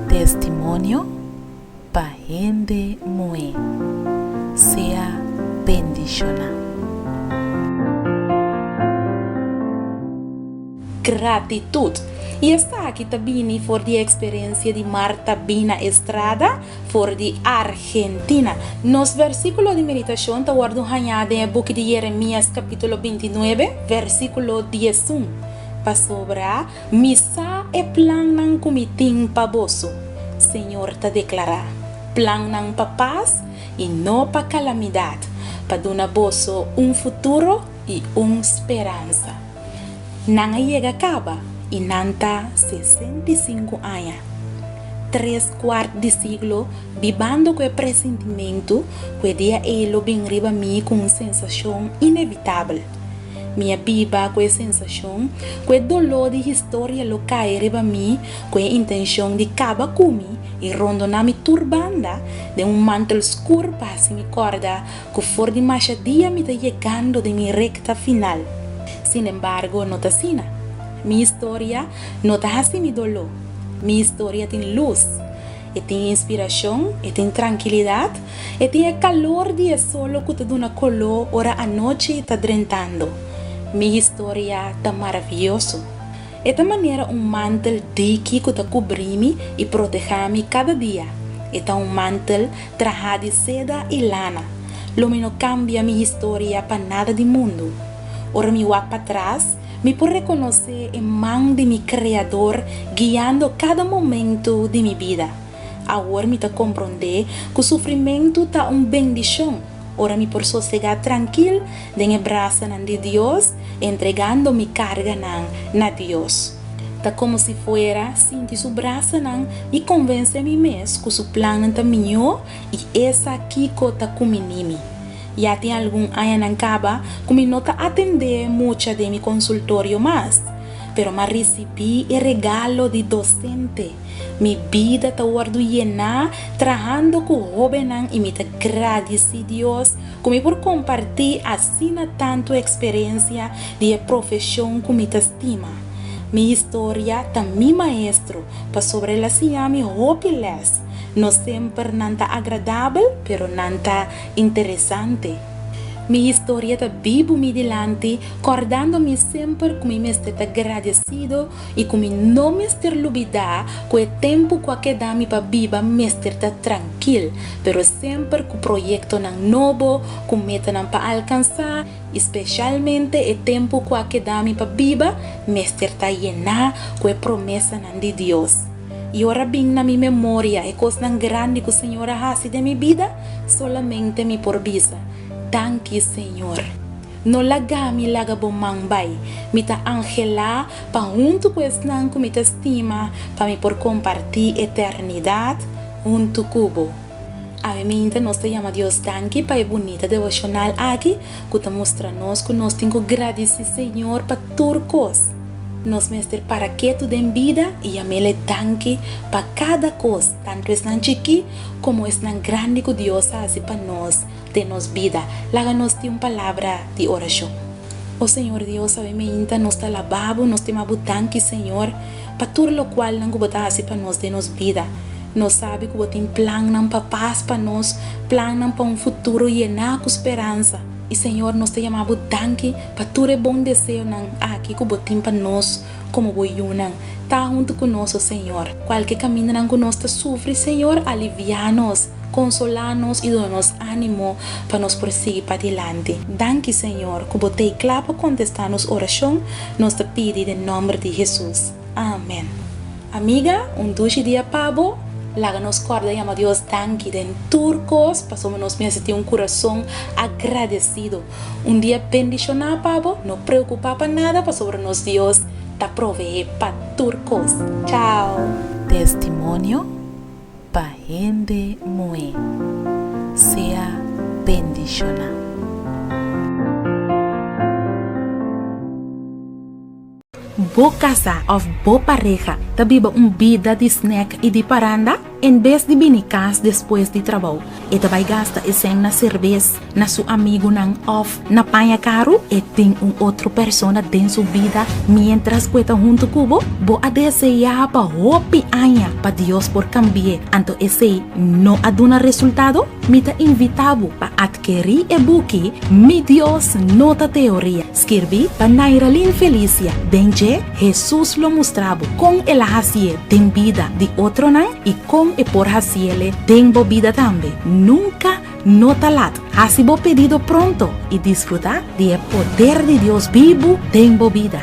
Testimonio pa hende muhé. Sea bendishoná. Gratitut. I esta aki ta bini for di e eksperensia di Marta Bina Estrada, For di Argentina. Nos versíkulo di meditashon ta wòrdu hañá den e buki di Yeremías kapítulo binti nuebe, versíkulo diesun, Pasobra Mi sa e plannan ku Mi tin pa boso, Señor ta deklará, plannan pa pas i no pa kalamidat, pa duna boso un futuro i un speransa. Nan a yega kaba i nan ta sesenta i sinku aña. Tres kuart di siglo bibando ku e presintimentu ku e dia ei lo bin riba mi ku un sensashon inevitabel. Mi a biba ku e sensashon ku e doló di historia lo kai riba mi ku e intenshon di kaba ku mi i rondoná mi tur banda den un mantel skur pa hasi mi kòrda ku for di masha dia mi ta yegando den mi rekta final. Sin embargo no ta asina. Mi historia no ta hasi mi doló. Mi historia tin lus. E tin inspirashon, e tin trankilidat, e tin e kalor di e solo ku ta duna koló ora anochi ta drentando. Mi historia ta maravioso. E ta manera un mantel diki ku ta kubrí mi i protegá mi kada dia. E ta un mantel trahá di seda i lana. Lo mi no kambia mi historia pa nada di mundu. Ora mi wak patras, mi por rekonosé e man di mi Kreador guiando kada momentu di mi bida. Awor mi ta komprondé ku sufrimentu ta un bendishon. Ora mi por sosegá trankil den e brasanan di Dios, entregando mi karganan na Dios. Ta komo si fuera sinti su brasanan i konvensé mi mes ku su plannan ta mihó i esa kiko ta kuminí mi. Ya tin algun añanan kaba ku mi no ta atendé mucha den mi konsultorio mas, pero m'a risibí e regalo di dosente. Mi bida ta wordu yená trahando ku hóbennan i mi ta gradisí Dios ku mi por kompartí asina tantu eksperensia di e profeshon ku mi ta stima. Mi historia ta mi maestro pasobra el a siña mi hopi lès. No semper nan ta agradabel, pero nan ta interesante. Mi historia ta bibu mi dilanti, kòrdando mi semper ku mi mester ta gradesido i ku mi no mester lubidá ku e tempu ku a keda mi pa biba mester ta trankil, pero semper ku proyektonan nobo, ku metanan pa alkansá i spesialmente e tempu ku a keda mi pa biba mester ta yená ku e promesanan di Dios. I ora a bin na mi memoria e kosnan grandi ku Señor a hasi den mi bida, solamente mi por bisa, Danki Señor! No lagami laga bo man bai. Mi ta anhelá pa huntu ku esnan ku mi ta stima pa mi por kompartí eternidat huntu ku bo. Awe minta nos ta yama Dios danki pa e bunita devoshonal aki ku ta mustra nos ku nos tin ku gradisí Señor pa tur kos. Nos mester para ketu den bida i yam'El e danki pa kada kos, tantu esnan chikí komo esnan grandi ku Dios a hasi pa nos. den nos bida. Laga nos tin un palabra di orashon. O Señor Dios, awe meinta nos ta labá Bo, nos stima Bo danki, Señor, pa tur lokualnan ku Bo ta hasi pa nos den nos bida. Nos sabi ku Bo tin plannan pa pas pa nos, plannan pa un futuro yená ku speransa. I Señor, nos ta yamá Bo danki pa tur e bon deseonan aki ku Bo tin pa nos. Komo bo yunan, ta huntu ku nos, o Señor. Kualke kamindanan ku nos ta sufri, Señor, aliviá nos, konsolá nos i duna nos ánimo pa nos por sigui padilanti. Danki, Señor, ku bo t'ei kla pa kontestá nos orashon, nos ta pidi den nòmber di Hesus. Amen. Amiga, un dushi dia pa bo! Laga nos kòrda yama Dios danki den tur kos, pasobra nos mester tin un kurason agradesido. Un dia bendishoná pa bo, no preokupá pa nada pasobra nos Dios ta proveé pa tur kos. Chao! Testimonio pa hende muhé. Sea bendishoná. Bo kasá òf bo pareha ta biba un bida di snèk i di paranda? En bes di bini kas despues di trabou, e ta bai gasta esèn na serbes, na su amigunan òf na paña karu? E tin un otro persona den su bida miéntras ku e ta huntu ku bo? Bo a deseá pa hopi aña pa Dios por kambi'é, anto esei no a duna resultado? Mi ta invitá bo pa atkerí e buki Mi Dios No Ta Teoría! Skirbí pa Nairalyn Felicia den dje Hesus lo mustrabu kon el a hasié den bida di otronan i kon e por hasiele den bo bida tambe. Nunka no ta lat! Hasi bo pedido pronto i disfrutá di e poder di Dios bibu den bo bida.